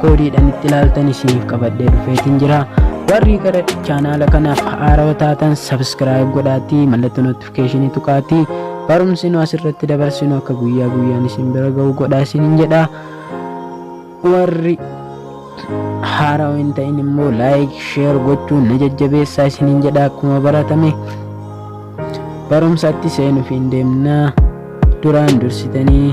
koodiidhaan itti ilaaltan isiniif qabadhee dhufeetiin jira warri gara chaanaala kanaaf haarawa taatan sabskiraayib godhaatii mallattoo notifikeeshinii tuqaatii barumsi nu asirratti dabarsinu akka guyyaa guyyaan isin bira ga'u godhaa isiniin jedha warri haarawa hin ta'in immoo laayik sheer gochuun na jajjabeessaa isiniin jedha akkuma baratame barumsatti seenuuf hin deemnaa duraan dursitanii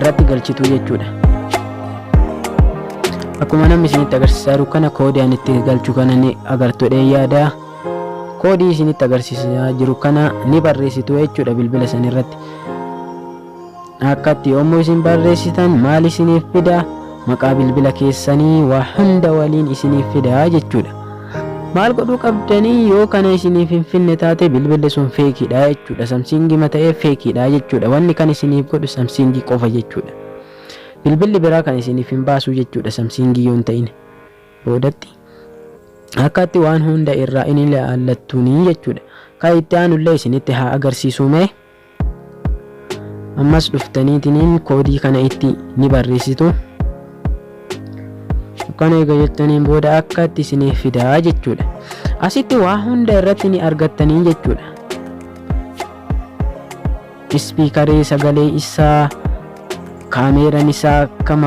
irratti galchitu jechuudha akkuma namni isinitti agarsiisaa jiru kana koodii ani itti galchu kana ni agartu jedhee yaada koodii isinitti agarsiisaa jiru kana ni barreessitu jechuudha bilbila san irratti akkatti yommuu isin barreessitan maal isiniif fida maqaa bilbila keessanii waa hunda waliin isiniif fida jechuudha Maal godhuu qabdanii yoo kana isiniif hin finne taate bilbilli sun feekiidha jechuudha. Samsiingii ma ta'ee feekiidha jechuudha. Wanni kan isiniif godhu samsiingii qofa jechuudha. Bilbilli biraa kan isiniif hin baasuu jechuudha samsiingii yoo hin ta'in. Boodatti akkaatti waan hunda irraa inni ilaallattuunii jechuudha. Kan itti aanullee isinitti haa agarsiisuu mee ammas dhuftaniitiniin koodii kana itti ni barreessitu kana eega jettaniin booda akka itti isiniif fidaa jechuudha asitti waa hunda irratti ni argattanii jechuudha ispiikarii sagalee isaa kaameeran isaa akkam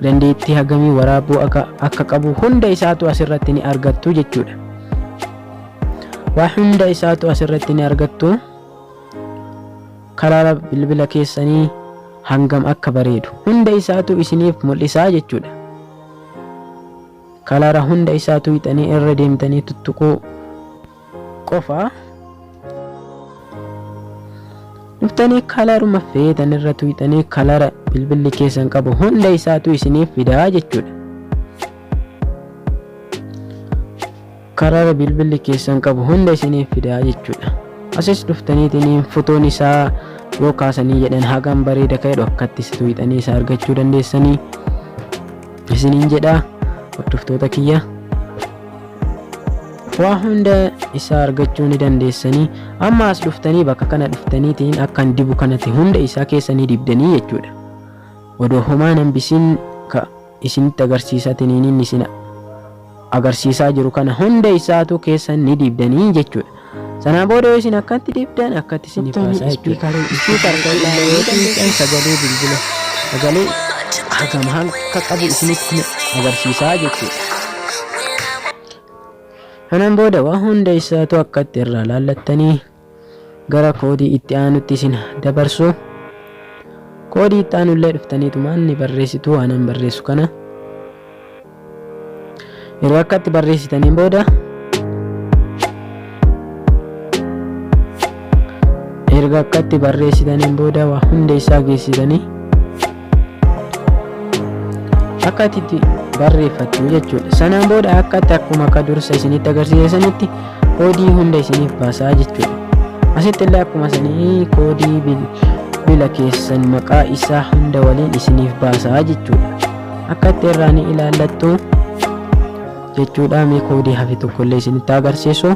dandeettii hagamii waraabuu akka qabu hunda isaatu asirratti ni argattu jechuudha waa hunda isaatu asirratti ni argattu kalaala bilbila keessanii hangam akka bareedu hunda isaatu isiniif mul'isaa jechuudha kalaala hunda isaatu hixanii irra deemtanii tuttuquu qofa dhuftanii kalaaruma feetan irra tuyxanii kalaara bilbilli keessan qabu hunda isaatu isiniif fidaa jechuudha Karara bilbilli keessan qabu hunda isiniif fidaa jechuudha. Asis dhuftaniitiin fotoon isaa yoo kaasanii jedhan hagam bareeda ka'e dhokkatti situ hixanii isaa argachuu dandeessanii isiniin jedha hordoftoota kiyya. Waa hunda isaa argachuu ni dandeessanii amma as dhuftanii bakka kana dhuftaniitiin akkan dibu kanatti hunda isaa keessanii dibdanii jechuudha. Odoo homaa nan bisiin ka isinitti agarsiisa tiniiniin isin agarsiisaa jiru kana hunda isaatuu keessan ni diibdanii jechuudha. Sanaa booda yoo isin akkatti diibdan akkatti isiniif Tooftaan haasaa jechuudha. ispiikarii Ispiikar kan ispiikarii ilaalee yoo xiinxan sagalee bilbila sagalee hagam hanga qabu isinitti ni agarsiisaa jechuudha. Kanaan booda waa hunda isaatuu akkatti irraa laallattanii gara koodii itti aanutti isin dabarsu koodii itti aanu illee dhuftaniitumaan ni barreessitu waanan barreessu kana yeroo akka itti barreessitaniin booda erga akka itti barreessitaniin booda waa hunda isaa geessitanii akka ati itti barreeffattu jechuudha sanaan booda akka ati akkuma akka dursa isinitti agarsiise sanitti koodii hunda isiniif baasaa jechuudha asitti illee akkuma sanii koodii bil- bila keessan maqaa isaa hunda waliin isiniif baasaa jechuudha akka itti irraa ni ilaallattu jechuudha mee koodii hafe tokkollee isinitti agarsiisu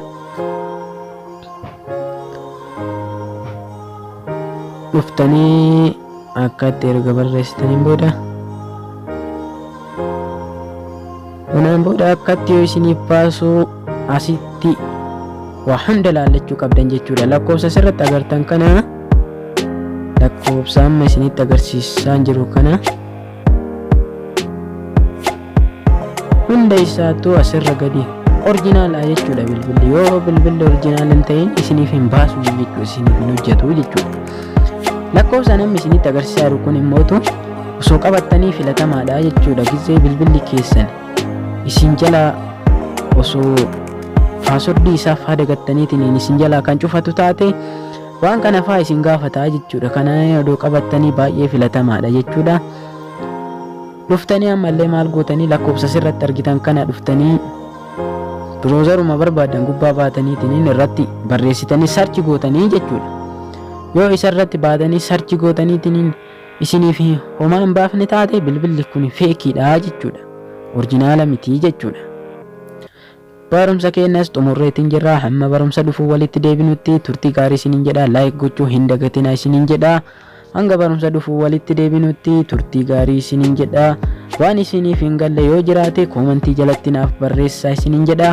dhuftanii akkatti erga barreessitaniin booda kanaan booda akkatti yoo isiniif baasuu asitti waa hunda laallachuu qabdan jechuudha lakkoofsa asirratti agartan kana lakkoofsa amma isinitti agarsiisaan jiru kana hunda isaattuu asirra gadi orjinaala jechuudha bilbilli yoo bilbilli orjinaala hin ta'in isiniif hin baasu jechuudha isiniif hin hojjetu jechuudha lakkoofsa namni isinitti agarsiisaa jiru kun immoo osoo qabattanii filatamaadha jechuudha gisee bilbilli keessan isin jalaa osoo paaswordii isaaf haa dagattaniitiin isin jalaa kan cufatu taate Waan kana faa isin gaafata jechuudha. Kana odoo qabattanii baay'ee filatamaadha jechuudha. Dhuftanii ammallee maal gootanii lakkoofsa sirratti argitan kana dhuftanii biroozaruma barbaadan gubbaa baataniitiin irratti barreessitanii sarchi gootanii jechuudha. Yoo isa irratti baatanii sarchi gootaniitiin isiniif homaa hin baafne taate bilbilli kun feekiidha jechuudha. Orjinaala mitii jechuudha. Barumsa keenyas xumurreetiin jirra. Hamma barumsa dhufu walitti deebinutti turtii gaarii isiniin jedha. Like gochuu hin dagatina isiniin jedha. Hanga barumsa dhufu walitti deebinutti turtii gaarii isiniin jedha. Waan isiniif hin galle yoo jiraate koomantii jalatti naaf barreessaa isiniin jedha.